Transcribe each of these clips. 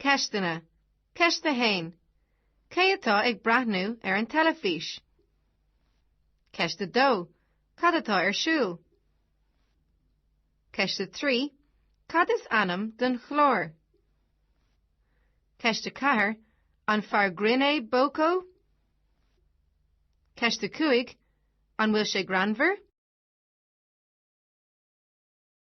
Ceisteanna. Ceist 1, Cé atá ag breathnú ar an teilifís? Ceist 2, Cad atá ar siúl? Ceist 3, Cad is ainm don chlár? Ceist 4, An fear grinn é Boko? Ceist 5, An bhfuil sé greannmhar?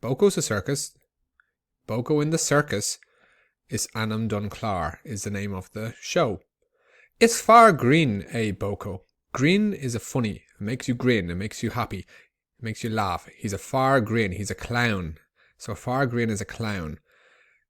Boko sa Circus Boko in the Circus is ainm don chlár is the name of the show. Is fear grinn é Boko. Grinn is a funny, it makes you grin, it makes you happy, it makes you laugh. He's a fear grinn, he's a clown. So a fear grinn is a clown.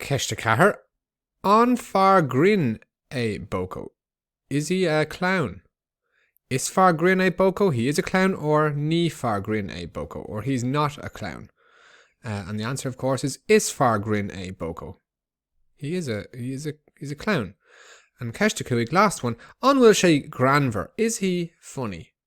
Ceist 4, An fear grinn é Boko? Is he a clown? Is fear grinn é Boko, he is a clown, or Ní fear grinn é Boko, or he's not a clown. Uh, and the answer, of course, is Is fear grinn é Boko. He is a, he is a, he's a clown. An ceist 5, last one, An bhfuil sé greannmhar? Is he funny?